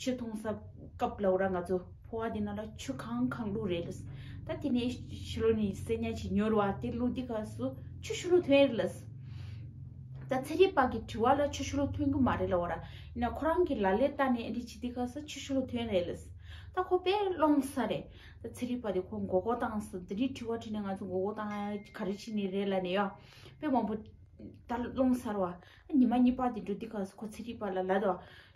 ཆུ་འཐུང་ས་སྐབས་ལ་ཨོ་ར་ང་ཚོ་ཕོ་བ་འདི་ན་ལ་ཆུ་གང་གང་བླུག་རེད་ལ། ད་དེ་ནས་ཤི་ལོ་ནི་སེར་ཉ་ཆི་ཉོར་བ་དེ་བླུག་དེ་ག་སུ་ཆུ་ཤུ་ལོ་ཐོན་རེད་ལ། ད་ཚེ་རིང་བ་གི་དྲི་བ་ལ་ཆུ་ཤུ་ལོ་ཐོན་གི་མ་རེད་ལ་ཨོ་ར་ཡིན་ན་ཁོ་རང་གི་ལ་ལས་ལྟ་ནས་འདི་ཆི་དེ་ག་སུ་ཆུ་ཤུ་ལོ་ཐོན་རེད་ལ། ད་ཁོ་དཔེ་ཀློང་ས་རེད། ད་ཚེ་རིང་བ་དེ་ཁོ་མགོ་སྐོར་བཏང་ས་དེ་རིང་དྲི་བ་དྲི་ནས་ང་ཚོ་མགོ་སྐོར་བཏང་ཡ་ག་རེ་བྱེད་ནི་རེད་ལ་ནི་ཡ། དཔེ་མང་པོ་ད་ཀློང་ས་ར་བ། ཉི་མ་གཉིས་པ་དེ་འགྲོ་དེ་ག་སུ་ཁོ་ཚེ་རིང་བ་ལ་ལ་ད།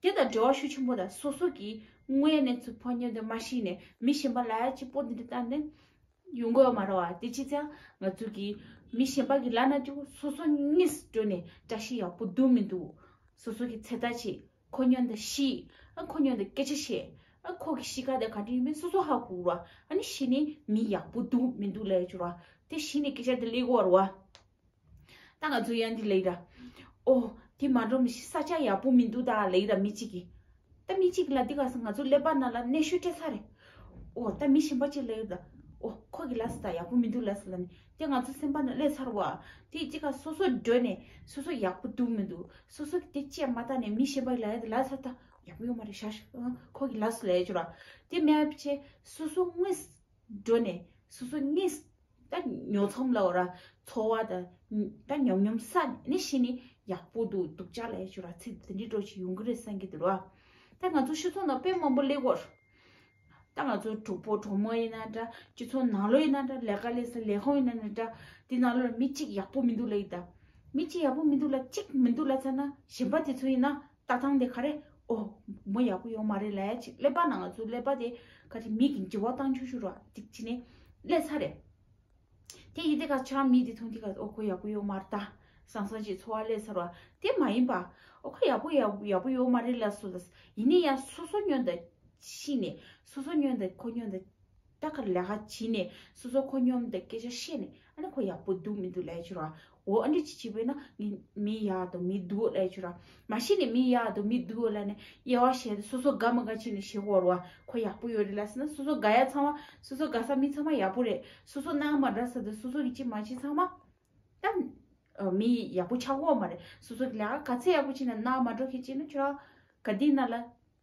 དེ་དང་འབྲེལ་བ་ཤུགས་ཆེན་པོ་དང་སོ་སོ་གིས་དངོས་གནས་ཚུར་ཕོ་ཉོན་དུ་མ་ཤེས་ནས་མི་གཞན་པ་ལ་ཅི་སྤོ་འདི་འདྲ་བཏང་ནས་ཡོང་དགོས་མ་རོ་བ་དེ་ཅི་ཙང་ང་ཚོ་གིས་མི་གཞན་པ་གི་ལག་ན་ཅུག་སོ་སོ་གཉིས་སུ་འགྲོ་ནས་བཀྲ་ཤིས་ཡག་པོ་འདུག་མི་འདུག་སོ་སོ་གི་ཚེ་ཐག་ཆད་ཁོ་ཉོན་དང་ཤི་ཨ་ཁོ་ཉོན་དང་སྐད་ཆ་བཤད་ཨ་ཁོ་གི་གཤིས་ཀ་དེ་ག་འདྲ་ཡིན་མིན་སོ་སོ་ཧ་གོ་རོ་བ་ཨ་ནི་ཤི་ནས་མི་ཡག་པོ་འདུག་མི་འདུག་ལས་ཅོ་རོ་བ་དེ་ཤི་ནས་སྐད་ཆ་དེ་ལས་གོ་རོ་བ། ད་ང་ཚོ་ཡང་འདི་ལེགས་ར། ཨོ། དེ་མ་འགྲོ་མི་ཤེས་ས་ཆ་ཡག་པོ་མི་འདུག་ད་ལེགས་ར་མི་གཅིག་གིས། ད་མི་གཅིག་ལ་འདི་ག་ས་ང་ཚོ་སླེབས་པ་ན་ལ་གནས་ཤོད་སྤྲད་ས་རེད། ཨོ། ད་མི་གཞན་པ་གཅིག་ལེགས་ར། ཨོ། ཁོ་གི་ལ་ས་ད་ཡག་པོ་མི་འདུག་ལ་ས་ལ་ནི་དེ་ང་ཚོ་སེམས་པ་ན་སླེབས་ཚར་བ། དེ་གཅིག་ག་སོ་སོ་སྒྲོལ་ནས་སོ་སོ་ཡག་པོ་འདུག་མི་འདུག་སོ་སོ་གི་དེ་བཅད་མ་ཐག་ནས་མི་གཞན་པ་གི་ལ་ཡ་དེ་ལ་ས་ད་ཡག་པོ་ཡོད་མ་རེད་ཤག་ཤག། ཨོ། ཁོ་གི་ལ་ས་ལེགས་ར། དེ་མས་བྱས་སོ་སོ་དངོས། འགྲོ་ནས་སོ་སོ་གཉིས་སུ་ད་ཉོ་ཚོམ་ལ་འོ་ར་འཚོ་བ་ད་ད་ཉོམ་ཉོམ་ས་ནས་ཤི་ནས་ཡག་པོ་འདུག་འདུག་ཅག་ལས་ཞུ་ར་ཚིག་འདི་འདྲའི་སྒྲོག་ཅིག་ཡོང་གི་རེད་བསམ་གི་འདུག་རོ། ད་ང་ཚོ་ཤི་ཚོང་ནང་དཔེ་མང་པོ་ལེགས་གོ། ད་ང་ཚོ་གྲོགས་པོ་གྲོགས་མོ་ཡིན་ན་འདྲ་སྤྱི་ཚོགས་ནང་ལོ་ཡིན་ན་འདྲ་ལས་ཀ་ལས་ས་ལས་ཁང་ཡིན་ན་འདྲ་དེ་ནང་ལོ་ལ་མི་གཅིག་ཡག་པོ་མི་འདུག་ལ་ཡིན་ད། མི་གཅིག་ཡག་པོ་མི་འདུག་ལ་གཅིག་མི་འདུག་ལ་ཚ་ན་གཞན་པ་དེ་ཚོ་ཡིན་ན་ལྟ་སྟངས་དེ་ག་རེད། ཨོ། མོ་ཡག་པོ་ཡོད་མ་རེད་ལས་ཅིག་ཀླད་པ་ན་ང་ཚོའི་ཀླད་པ་དེ་ག་རེ་མིག་གི་འབྲི་བ་སྟངས་ཆུ་ཆུ་ར་ཅིག་བྱེད་ནས་ཀླད་ཚ་རེད། དེ་ཡིན་དེ་ག་ཆ་མི་དེ་མཐོང་དེ་ག་ཨོ་ཁོ་ཡག་པོ་ཡོད་མ་རེད་ད་སང་སང་ཅིག་འཚོ་བ་ཀླད་ཚ་རོ་དེ་མ་ཡིན་པ། ཨོ་ཁོ་ཡག་པོ་ཡག་པོ་ཡོད་མ་རེད་ལས་སོ་ལས་སོ་ཡིན་ནས་ཡ་སོ་སོ་སྨྱོན་ད་ཤི་ནས་སོ་སོ་སྨྱོན་ད་ཁོ་སྨྱོན་ད། ལྟ་གར་ལས་ཀ་བྱས་ནས་སོ་སོ་ཁོ་སྙོམས་དང་སྐད་ཆ་བཤད་ནས་ཨ་ནི་ཁོ་ཡག་པོ་འདུག་མི་འདུག་ལས་བྱུར་བ་འོ་ཨ་འདྲི་བྱེད་བྱེད་པས་ན་ངས་མི་ཡག་དང་མི་འདུག་ལས་བྱུར་བ་མ་བཤད་ནས་མི་ཡག་དང་མི་འདུག་ལ་ནས་དབྱེ་བ་བྱས་ཏེ་སོ་སོ་དགའ་མི་དགའ་བྱས་ནས་ཞེ་བོར་བ་ཁོ་ཡག་པོ་ཡོད་རེད་ལ་ཟེར་ན་སོ་སོ་དགའ་ཡ་ཚང་མ་སོ་སོ་དགའ་ས་མིན་ཚང་མ་ཡག་པོ་རེད་སོ་སོ་སྣང་མ་འདྲ་ས་དང་སོ་སོ་གི་ཅི་མ་བྱས་ཚང་མ་ད་མི་ཡག་པོ་ཆགས་འོང་བ་རེད་སོ་སོ་གི་ལས་ཀ་ག་ཚད་ཡག་པོ་བྱས་ན་སྣང་མ་འགྲོ་ཁེ་བྱས་ན་ཆོག་ག་དེས་ན་ལ།